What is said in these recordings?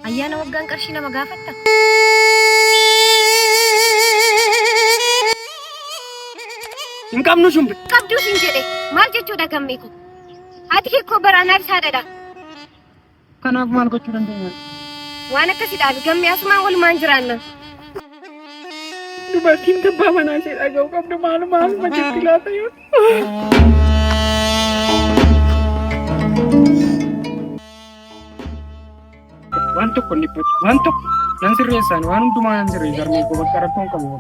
Ayyaana waggaan qarshii nama gaafatta? Hin qabnu shumbe. Qabduu siin jedhe maal jechuudha gammee kun? Haati kee koo bara anaaf isaa dhadha. Kanaaf maal gochuu dandeenya? Waan akkasi dhaabi gammee asumaan walumaan jiraanna. Dubartiin tabbaa manaa ishee dhaga'u qabdu maaluma haaluma jirti laata yoo. Waan tokko hin dhiphatu. Waan tokko nan sirreessaan waan hundumaa nan sirreessa harmee koo bakka rakkoon qabu.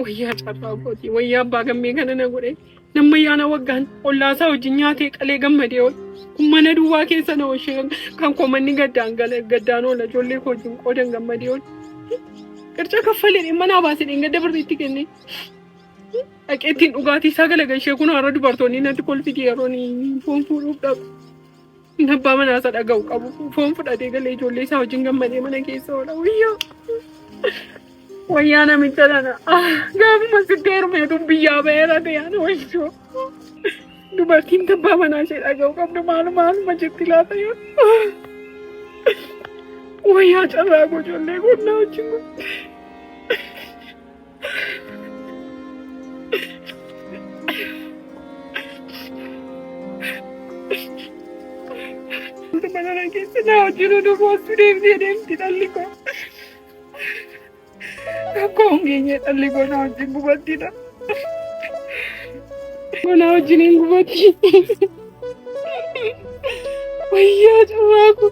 Wayyaa carraa kooti. Wayyaa abbaa gammee kana na godhe. Namma yaana waggaan ollaasaa wajjin nyaatee qalee gammadee oole. Kun mana duwwaa keessa na oolchee kan koo manni gaddaan gala gaddaan oola ijoollee koo wajjin qoodan gammadee oole. Qirca kaffalee manaa baasee dheengadda birriitti kenne. Dhaqee ittiin dhugaatii isaa galagalchee kun har'a dubartoonni natti kolfiti yeroo inni foon fuudhuuf dhaqu. Inni abbaa manaa isaa dhaga'u qabu foon fudhatee galee ijoollee isaa wajjin gammadee mana keessa oola. Wayyoo! Wayyaa namicha tana. Gaafuma sitti heerumeetu biyyaa ba'eera ta'an wayyoo. Dubartiin abbaa manaa ishee dhaga'u qabdu maal maaluma jetti laata yoo. Wayyaa carraa koo ijoollee koo naa wajjin. Mana na keessa na wajjin oduu boostuu deemtee deemti dhalli koo. Rakkoo hongeenyee dhalli koo na wajjin gubattidha. Mana wajjin hin gubatti. Wayyaa carraa koo.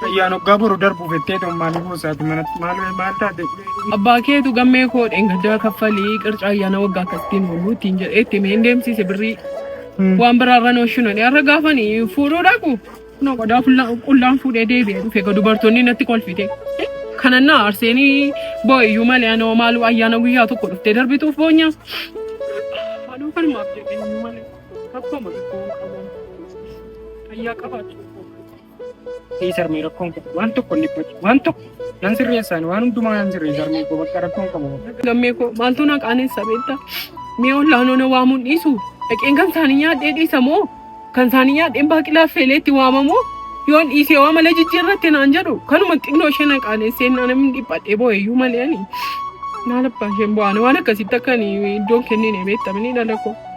Fayyaan hoggaa boru darbu bettee ta'u maaliif musaati manatti maal maal taate? Abbaa keetu gammee koo dheengaddaa kaffalii qircaa ayyaana waggaa akkasittiin oolu ittiin jedhee itti mee hin deemsiise birrii. Waan biraarra nu shinani har'a gaafani fuudhuu dhaqu. Kunoo qodaa fulla- qullaan fuudhee deebi'ee dhufe egaa dubartoonni natti kolfite. Kanan na aarseenii boo'iyyuu malee anoo maaluu ayyaana guyyaa tokko dhuftee darbituuf boonya. Maaloo kanumaaf jedhee malee. Rakkooma tokkoon qaban fayyaa qabaatu tokkoon Ee sarmee rakkoon qabu waan tokko hin dhiphatu waan tokko nan sirreessaan waan hundumaa nan sirreessa sarmee koo bakka rakkoon qabu. Lammee koo maaltu na qaaneessa beektaa? Mee ollaanoo na waamuun dhiisu dhaqeen kan isaanii nyaadhee dhiisa moo kan isaanii nyaadheen baaqilaa feelee itti waamamoo yoon dhiisee waa mala jijjiirratti naan jedhu kanuma xinnoo ishee na qaaneessee na namni dhiphadhee boo'eeyyuu malee ani. Maal abbaa isheen bu'aan waan akkasitti akka ani iddoon kennine beektamni dhala koo.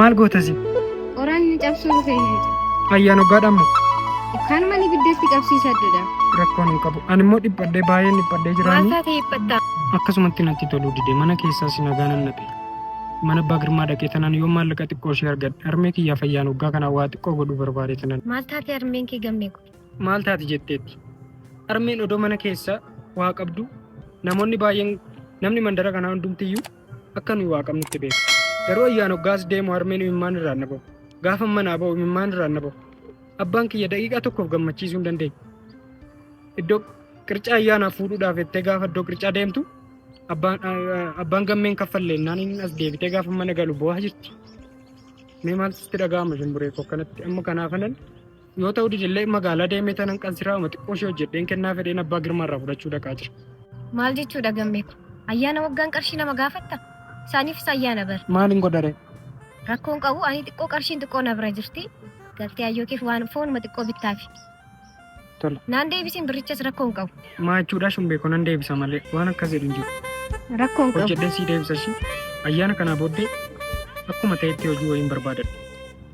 Maal gootasi? Qoraan ni cabsuu dhufe hin cabsu. Ayyaan hoggaadhaan moo? Kaanuma ni biddatti qabsiisadudha. Rakkoon hin qabu. Ani immoo dhiphadhee baay'een dhiphadhee Maal jiraanii. taate dhiphatta? Akkasumatti natti toluu dide mana keessaas nagaa nan dhabe. Mana abbaa girmaa dhaqee tanan yoo maallaqa xiqqoo ishee argadhe harmee kiyyaaf ayyaan hoggaa kanaa waa xiqqoo godhuu barbaade tanan. Maal taate harmeen kee gammee kun? Maal taati jetteetti? Harmeen odoo mana keessa waa qabdu namoonni baay'een namni mandara kanaa hundumtiyyuu Akka nuyi Waaqa qabnutti beeka. Garuu ayyaan hoggaas deemu harmeen imimmaan irraa na bahu. Gaafa manaa bahu imimmaan irraa na bahu. Abbaan kiyya daqiiqaa tokkoof gammachiisuu hin dandeenye. Iddoo qircaa ayyaanaaf fuudhuudhaaf jettee gaafa iddoo qircaa deemtu abbaan abbaan gammeen kaffalle innaan inni as deebitee gaafa mana galu boo'aa jirti. Mee maaltu sitti dhaga'ama shimburee koo akkanatti amma kanaafanan Yoo ta'u didillee magaalaa deemee tanan kan siraama xiqqoo ishee hojjedheen kennaa fedheen abbaa girmaa irraa fudhachuu dhaqaa jira. Maal jechuudha gammee kun? Ayyaana waggaan qarshii nama gaafatta? Isaaniifis ayyaana bar. Maaliin godhare? Rakkoon qabu ani xiqqoo qarshiin xiqqoo na bira jirti. Galtee ayyoo keef waan foonuma xiqqoo bittaafi. Tola. Naan deebisiin birrichas rakkoon qabu. Maa jechuudha shumbee kun nan deebisa malee waan akkas jedhu hin jiru. Rakkoon qabu. Hojjedheen sii deebisa ishii ayyaana kanaa booddee akkuma ta'etti hojii wayiin barbaadadha.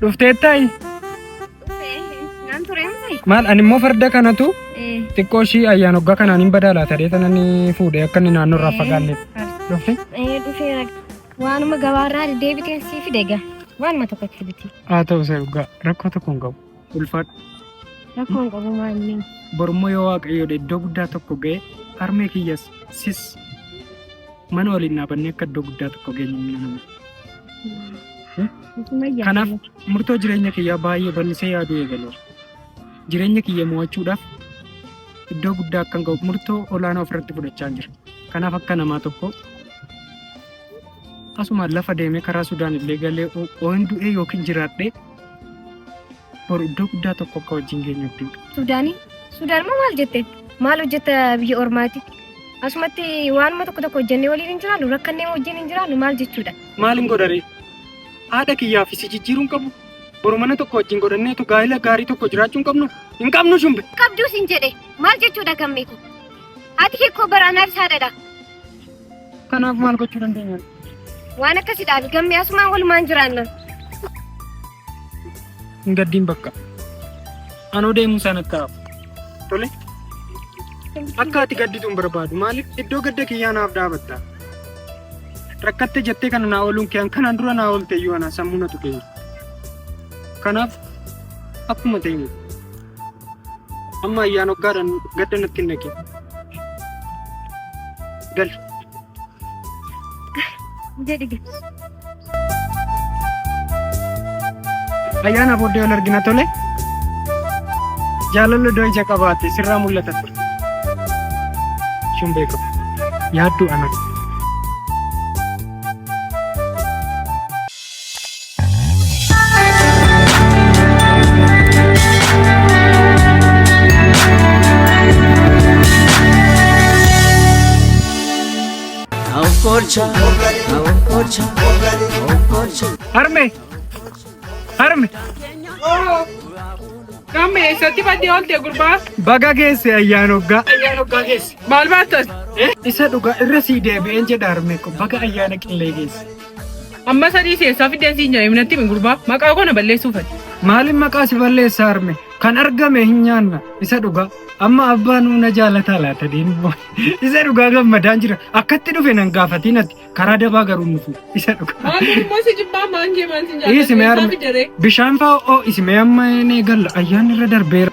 Dhufteettayi Nan ture miti. maal ani immoo farda kanatu xiqqoo ishii ayyaan hoggaa kanaan hin badaalaa ta'ee tanan fuudhee akka inni naannoo irraa fagaanneef dhufte. Ee dhufeera. Waanuma gabaarraa deebiteen sii fide egaa. Waanuma tokkotti biti. Haa ta'u isa dhugaa rakkoo tokko hin qabu. Ulfaadhu. Rakkoon qabu maa inni. Borummoo yoo waaqayyoodha iddoo guddaa tokko ga'e harmee kiyyas sis mana waliin dhaabannee akka iddoo guddaa tokko geenye ni nama. Sumayyaa. Kanaaf murtoo jireenya kiyyaa baay'ee bal'isee yaaduu eegaleera. Jireenya kiyya mo'achuudhaaf iddoo guddaa akkan ga'u murtoo olaanaa ofirratti fudhachaa jira. Kanaaf akka namaa tokko asuma lafa deemee karaa Sudaan illee galee oo hin du'ee yookiin jiraadhee Bor iddoo guddaa tokko akka wajjin geenyu abdii qaba. Suudaanii? Suudaan moo maal jette? Maal hojjetta biyya ormaati? Asumatti waanuma tokko tokko hojjennee waliin hin jiraannu rakkannee wajjin hin jiraannu maal jechuudha? Maal hin godharee? Haadha kiyyaa fi si jijjiiruun qabu. Bor mana tokko wajjin godhanneetu gaa'ila gaarii tokko jiraachuu hin qabnu. Hin qabnu shumbe. Qabduus hin jedhe maal jechuudha gammee koo? Haati kee koo bara anaafis haadhadha. Kanaaf maal gochuu dandeenya? Waan akkasii dhaabi gammee asumaan walumaan jiraanna. Hin gaddiin bakka. Anoo deemuu isaan akka hafu. Tole. Akka ati gadditu hin barbaadu. Maaliif iddoo gadda kiyyaa naaf dhaabatta? Rakkatte jettee kana naa ooluun kee kanaan dura naa oolte iyyuu anaa sammuu na tuqee. Kanaaf akkuma ta'e Amma ayyaan hoggaadhaan gadda natti hin naqin. Gal. Jedhi gal. Ayyaana booddee wal argina tole. Jaalalli iddoo ija qabaate sirraa mul'ata ture. Shin beekamu. Yaadduu ana. Okkolcha, okkolcha, okkolcha. Harme! Harme! Namni eessatti badde oolte gurbaa? Baga geesse ayyaan hoggaa. Ayyaan hoggaa geesse. Maal baattas? Isa dhugaa irra sii deebi'een jedha harme ko baga ayyaana qillee geesse. Amma sadii seessaa fiddeen siin jedhe minatti himi gurbaa maqaa koo na balleessuu fati. Maaliin maqaa si balleessa harme kan argame hin nyaanna isa dhugaa amma abbaa nuu na jaalataa laata deemu isa dhugaa gammadaan jira akkatti dhufe nan gaafatiin ati karaa dabaa garuu nufu isa dhugaa. Maangee immoo si jibbaa maangee maal siin Ii jaallatu simee seessaa harme fidderee. bishaan fa'aa oo isimee amma hin eegalla ayyaanni irra darbeera.